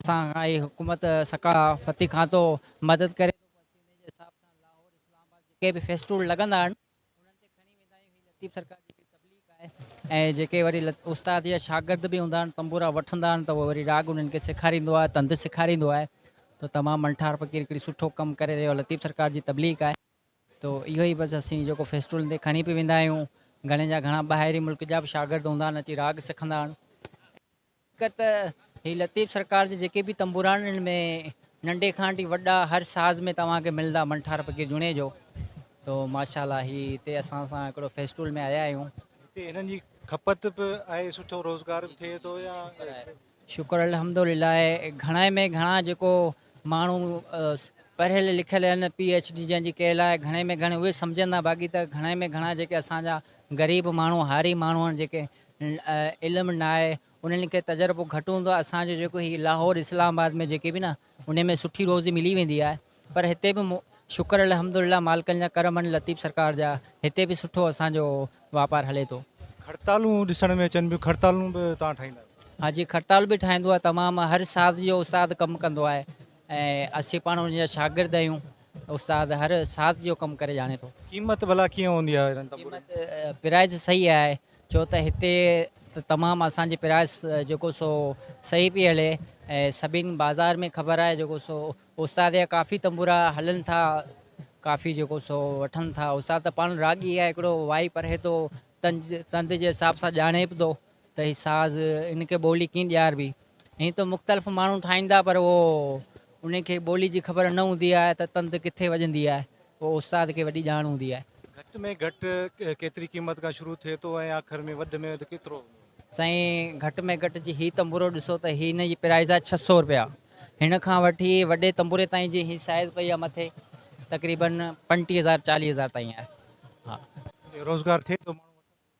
اسان کان هي حڪومت سکا فتي کاتو مدد ڪري ٿو بس ان جي حساب سان لاهور اسلام آباد جيڪي به فيسٽول لڳندا آهن انهن تي کڻي ويندا آهيون هي لطيف سرڪار جي تبليغ آهي ۽ جيڪي وري استاد يا شاگرد به هوندا آهن تنبورا وٺندا آهن ته وري راڳ انهن کي سيکاريندو آهي تند سيکاريندو آهي ته تمام منٺار فقير هڪڙي سٺو ڪم ڪري رهيو آهي لطيف سرڪار جي تبليغ آهي تو اهو ئي بس اسين جيڪو فيسٽول تي کڻي پي ويندا آهيون گهڻي جا گهڻا ٻاهرين ملڪ جا به شاگرد هوندا آهن اچي راڳ سکندا آهن حقيقت هي لطيف سرڪار جي جيڪي به تنبورانن ۾ ننڍي کان وٺي وڏا هر ساز ۾ توهان کي ملندا منٺار فقير جوڻيجو تو ماشاءالله هي هتي اسان سان هڪڙو فيسٽول ۾ آيا آهيون هتي هنن جي کپت به آهي سٺو روزگار به ٿئي ٿو يا شڪر الحمدلله گهڻائي ۾ گهڻا جيڪو ماڻهو پڙهيل لکيل آهن پي ايچ ڊي جن جي ڪيل آهي گهڻي ۾ گهڻي اهي سمجهندا باقي ته گهڻائي ۾ گهڻا جيڪي اسان جا غريب ماڻهو هاري ماڻهو آهن جيڪي علم ناهي انهن کي تجربو گهٽ هوندو آهي اسان جو جيڪو هي لاهور اسلام آباد ۾ جيڪي به نه ان ۾ سٺي روزي ملي ويندي آهي پر هتي به شڪر الحمدلله مالڪن جا ڪرم آهن لطيف سرڪار جا هتي به سٺو اسان جو واپار هلي ٿو. کڙتالون ڏسڻ ۾ اچن پيون کڙتالون به توهان ٺاهيندا آهيو. ها جي کڙتال به ٺاهيندو آهي تمام هر ساز جو استاد ڪم ڪندو آهي ۽ اسين پاڻ ان جا شاگرد آهيون استاد هر ساز جو ڪم ڪري ڄاڻي ٿو. قيمت ڀلا ڪيئن هوندي آهي انهن تنبورن جي؟ قيمت پرائز صحيح آهي ڇو ته هتي ته تمام اسان جي پرائس جيڪو سو صحيح پئي هلي ۽ سڀين بازار ۾ خبر آهي جيڪو سو استاد جا ڪافي تنبورا هلن ٿا ڪافي جيڪو سو وٺن ٿا استاد ته پاڻ راڳي آهي هڪڙو وائي پرهي ٿو تنز تند جي حساب سان ڄاڻي به ٿو ته هي ساز هن کي ٻولي ڪيئن ڏياربي ائين ته مختلف ماڻهو ٺاهيندا پر اهو انهن کي ٻولي جي خبر نه هوندي آهي ته تند ڪٿي وڄندي آهي اهو استاد کي وڏي ڄاڻ هوندي آهي. گهٽ ۾ گهٽ ڪيتري قيمت کان شروع ٿئي ٿو ۽ آخر ۾ وڌ ۾ وڌ ڪيترو هوندو؟ سائين گهٽ ۾ گهٽ جي هي تنبورو ڏسو ته هي هن جي پرائز آهي ڇهه سؤ رپيا هن کان وٺي وڏي تنبوري تائين جي هي سائز پئي آهي مٿي تقريبن پنٽيهه هزار چاليهه هزار تائين آهي ها. روزگار ٿئي ٿو ماڻهو وٺن ٿا.